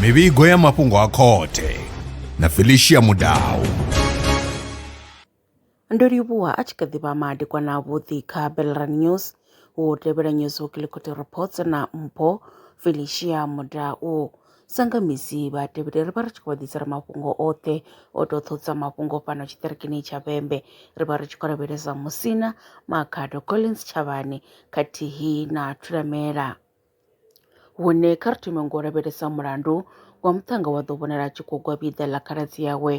mivhigo ya mafhungo a khothe na felicia mudau ndo livhuwa a tshi kha ḓivha madekwana avhuḓi kha belran news wo tevhela news weekly court reports na mpho felicia mudau Sa nga misi vhatevheli ri vha ri tshi khou vha ḓisela mafhungo oṱhe o to ṱhodza mafhungo fhano tshiṱirikini tsha Vhembe ri vha ri tshi khou lavhelesa Musina, Makhado, Collins Tshavhani khathihi na Thulamela. Hune kha ri thome ngo lavhelesa mulandu wa muṱhannga wa ḓo vhonala a tshi khou gwa vhiḓa ḽa khaladzi yawe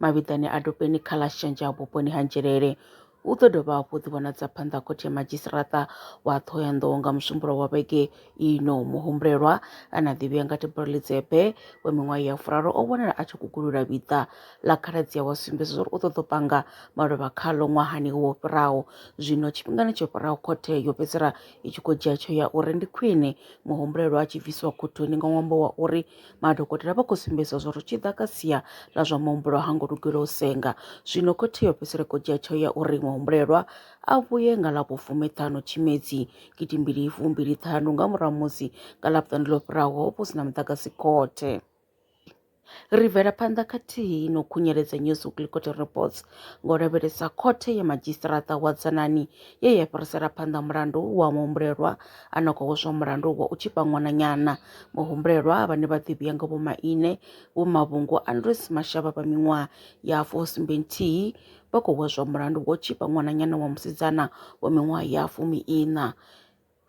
mavhiḓani a dopeni kha ḽa Shenzha vhuponi ha Nzhelele U ḓo dovha hafhu u ḓivhonadza phanḓa ha Khothe ya Madzhisiṱaraṱa wa Ṱhohoyanḓou nga Musumbulowo wa vhege ino. Muhumbulelwa ane a ḓivhea nga Tibor Lidzepe wa miṅwaha ya furaru o vhonala a tshi gugulula vhiḓa ḽa khaladzi awe a sumbedza zwauri u ṱoḓa u panga maluvha khaḽo ṅwahani wo fhiraho. Zwino tshifhingani tsho fhiraho khothe yo fhedzisela i tshi khou dzhia tsheo ya uri ndi khwine muhumbulelwa a tshi bvisiwa khothoni nga ṅwambo wa uri Madokotela vha khou sumbedza zwo ri tshi ḓa kha sia ḽa zwa muhumbulo ha ngo lugela u senga. Zwino khothe yo fhedzisela khou dzhia tsheo ya uri muhumbulelwa a vhuye nga ḽa vhufumiṱhanu Tshimedzi gidimbili fumbili ṱhanu nga murahu musi nga ḽa vhuṱanu ḽo fhiraho ho vha hu si na muḓagasi khothe. Ri bvela phanḓa khathihi no khunyeledza New Zouglou Court Reports ngo lavhelesa khothe ya madzhisiṱiraṱa wa Dzanani ye ya fhirisela phanḓa mulandu wa muhumbulelwa a no khou hweswa mulandu wa u tshipa ṅwananyana Muhumbulelwa vhane vha ḓivhiwa nga Vho Maine Vho Mavhungu Andrews Mashaba vha miṅwaha ya fu sumbe nthihi vha khou hweswa mulandu wo tshipa ṅwananyana wa musidzana wa miṅwaha ya fumi iṋa.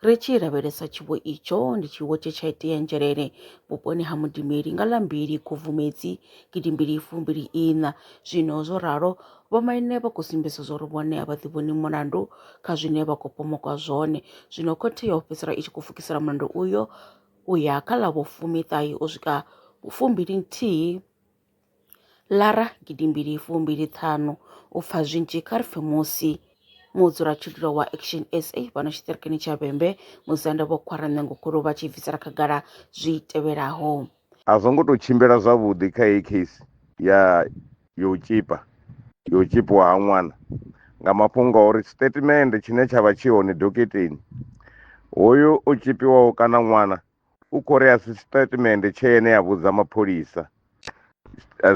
Ri tshi lavhelesa tshiwo itsho ndi tshiwo tshe tsha itea Nzhelele vhuponi ha Mudimeli nga ḽa mbili Khubvumedzi gidimbili fumbili iṋa zwino zwo ralo Vhomaine vha khou sumbedza zwauri vhone a vha ḓivhoni mulandu kha zwine vha khou pomokwa zwone. Zwino khothe yo fhedzisela i tshi khou pfukisela mulandu uyo u ya kha ḽa vhufumiṱahe u swika fumbili-nthihi Lara gidimbili fumbili-ṱhanu u pfa zwinzhi kha ri pfe musi mudzulatshidulo wa Action SA fhano tshiṱirikini tsha Vhembe, Musanda Vho Khwaranṋengokhulu vha tshi bvisela khagala zwi tevhelaho. A zwo ngo tou tshimbila zwavhuḓi kha heyi case ya yo u tshipa yo u tshipiwa ha ṅwana nga mafhungo a uri statement tshine tsha vha tshi hone doketeni hoyu o tshipiwaho kana ṅwana u khou ri a si statement tshe ene a vhudza mapholisa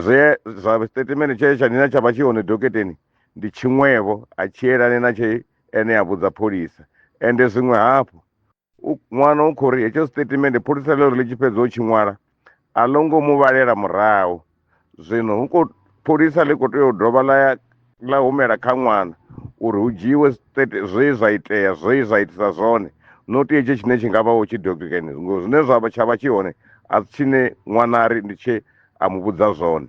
zwe zwa statement tshe tsha nina tsha vha tshi hone doketeni ndi tshiṅwevho a tshi elani na tshe ene a vhudza pholisa ende zwiṅwe hafhu u- ṅwana u khou ri hetsho sitatimende pholisa ḽo ri ḽi tshi fhedza u tshi ṅwala a ḽo ngo mu vhalela murahu zwino hu khou pholisa ḽi khou tea u dovha ḽa ya ḽa humela kha ṅwana uri hu dzhiiwe state zwe zwa itea zwe zwa itisa zwone not hetsho tshine tshi nga vha wo tshi dokeni ngo zwine zwa vha tsha vha tshi hone a si tshine ṅwana a ri ndi tshe a mu vhudza zwone